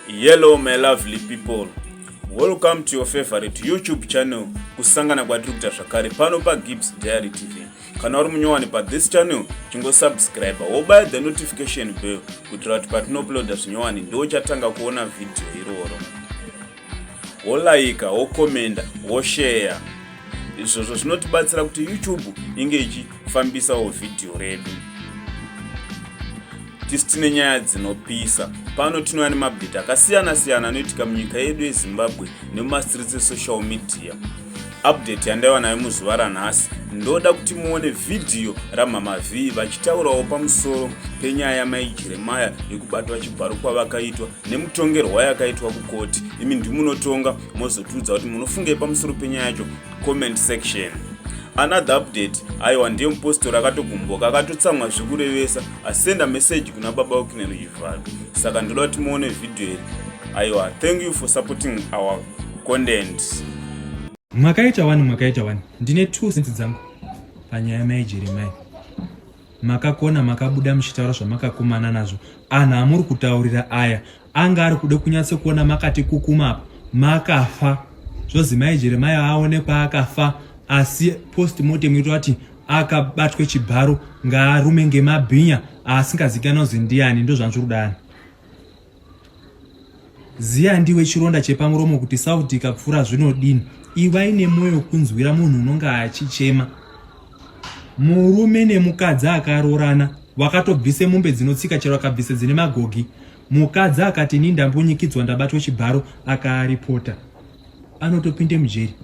Hello my lovely people. Welcome to your favorite YouTube channel kusangana kwatiri kuita zvakare pano pa Gibbs Diary TV. Kana uri munyowani pa this channel chingo subscribe wobaya the notification bell kuitira kuti patinouploada zvinyowani ndiwo chatanga kuona video iroro. wolaika wokomenda wosheya izvozvo zvinotibatsira kuti youtube inge ichifambisawo vhidhiyo redu tisi tine nyaya dzinopisa pano tinouya nemabdeti akasiyana-siyana anoitika munyika yedu yezimbabwe nemumastreets esocial media update yandaiva nayo muzuva ranhasi ndoda kuti muone vhidhiyo ramama vhii vachitaurawo pamusoro penyaya yamai jeremaya yekubatwa chibharu kwavakaitwa nemutongerwa yakaitwa kukoti imi ndimunotonga mozotiudza kuti munofungei pamusoro penyaya yacho comment section another update aiwa ndiye mupostori akatogumbuka akatotsamwa zvekurevesa asenda meseji kuna baba wekunero chivharo saka ndoda kuti muone vhidhiyo iri aiwa thank you for supporting our content makaita wani makaita wani ndine two sense dzangu panyaya mai jeremai makakona makabuda muchitaura zvamakakumana nazvo anhu amuri kutaurira aya anga ari kuda kunyatso kuona makati kukuma apa makafa zvozi mai jeremai aonekwa akafa asi post mortem ito ati akabatwe chibharo ngaarume ngemabhinya aasingazikana kuzi ndiani ndozvanzviri kudani Ziya ndiwe chironda chepamuromo kuti sauti ikapfura zvinodini. Ivai nemwoyo kunzwira munhu unonge achichema. Murume nemukadzi akaroorana vakatobvisa mombe dzinotsika chero akabvisa dzine magogi. Mukadzi akati ini ndambunyikidzwa ndabatwa chibharo akaaripota. Anotopinde mujeri.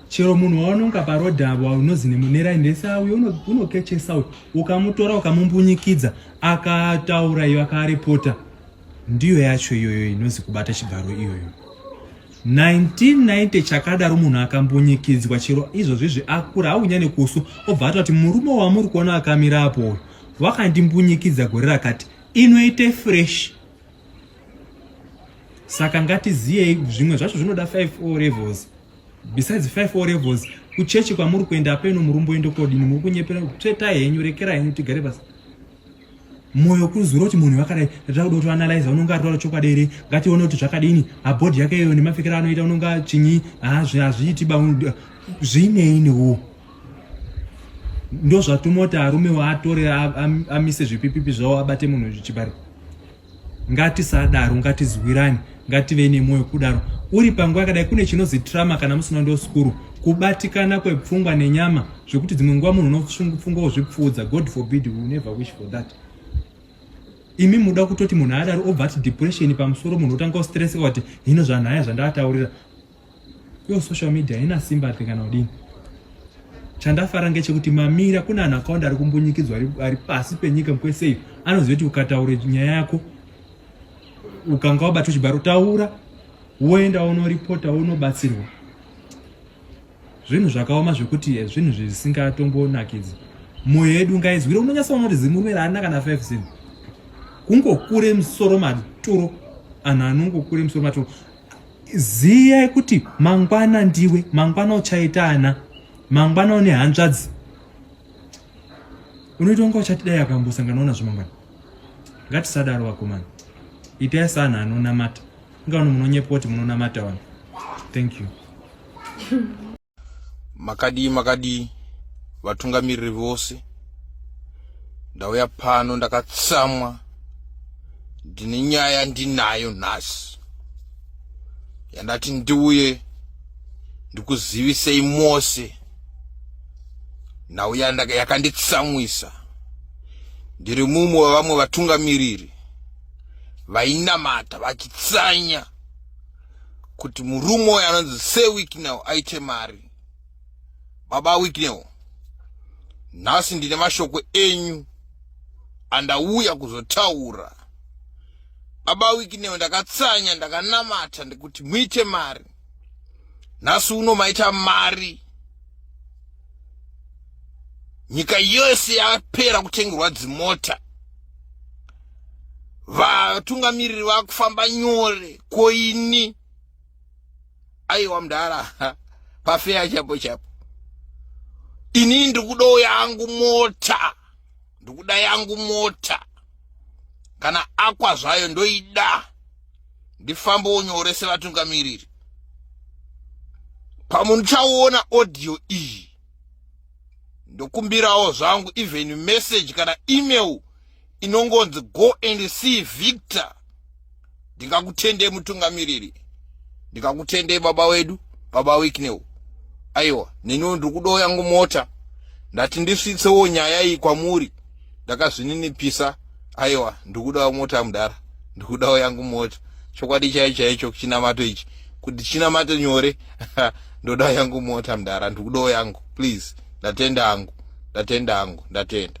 chero munhu waunonga paroad avo unozi nemunera ndese auyo unokechesa uyu ukamutora ukamumbunyikidza akataura iyo akaarepota ndiyo yacho iyoyo inozi kubata chibharo iyoyo 1990 chakadaro munhu akambunyikidzwa chero izvozvizvi akura aunyane kusu obva ata kuti murume wamuri kuona akamira apo uyu wakandimbunyikidza gore rakati inoite fresh saka ngatiziyei zvimwe zvacho zvinoda 5 o levels besides 5 o levels kuchechi kwamuri kuenda apeno murumbo ende kodini muri kunyepera tsveta henyu rekera henyu tigare basa moyo kuzura kuti munhu vakadai atira kuda kuti analyze unonga aritaura chokwadi here ngatione kuti zvakadini abhodhi yake iyo nemapfekero anoita unonga chinyi hazviiti ba zviinei newo ndozvatumoti arume waatore amise zvipipipi zvawo abate munhu zvichibari ngatisadaro ngatizwirane ngative nemwoyo kudaro uri panguva yakadai kune chinozi trama kana musina ndo skuru kubatikana kwepfungwa nenyama zvekuti dzimwe nguva munhu unopfunga wozvipfuudza god forbid we never wish for that imi muda kutoti munhu adaro obva ati depression pamusoro munhu otanga kustresseka kuti hino zvanhaya zvandavataurira Yo social media haina simba ati kana udini. Chandafara ngechekuti mamira kuna ana akawanda ari kumbunyikidzwa ari pasi penyika mkwese anoziva kuti ukataura nyaya yako ukanga wabatwa chibharo taura woenda unoripota unobatsirwa zvinhu zvakaoma zvekuti eh, zvinhu zvisingatombonakidzi mwoyo yedu ngaizwire unonyasa unoti zimurume raana kana 5 zin kungokure musoro maturo anhu anongokure musoro maturo Ziyai kuti mangwana ndiwe, mangwana uchaita ana, mangwana une hanzvadzi. Unoita kunge uchati dai akambosanganawo nazvo mangwana. Ngatisadaro vakomana, itai sana anonamata. Inga vano munonyepa kuti munonamata vanhu. Thank you. makadii makadii vatungamiriri vose ndauya pano ndakatsamwa ndine nyaya ndinayo nhasi yandati ndiuye ndikuzivisei mose nhau yakanditsamwisa ndiri mumwe wevamwe vatungamiriri vainamata vachitsanya kuti murume uyo anonzi sewicknel aite mari baba wicknel nhasi ndine mashoko enyu andauya kuzotaura baba wicknel ndakatsanya ndakanamata ndekuti muite mari nhasi uno maita mari nyika yose yapera kutengerwa dzimota vatungamiriri vakufamba nyore koini aiwa mdara pafeya chapo chapo ini ndikudawo yangu mota ndikuda yangu mota kana akwa zvayo ndoida ndifambewo nyore sevatungamiriri pamuchaona audio iyi ndokumbirawo zvangu even message kana email inongonzi go and see victor ndingakutendei mutungamiriri ndingakutendei baba wedu baba wiknew aiwa neniwo ndiri kudoya ngomota ndati ndisvitsewo nyaya iyi kwamuri ndakazvininipisa aiwa ndikudawo mota mudhara ndikudawo yangu mota chokwadi chai chaicho chinamato ichi kuti chinamato nyore ndodawo yangu mota mudhara ndikudawo yangu please ndatenda hangu ndatenda hangu ndatenda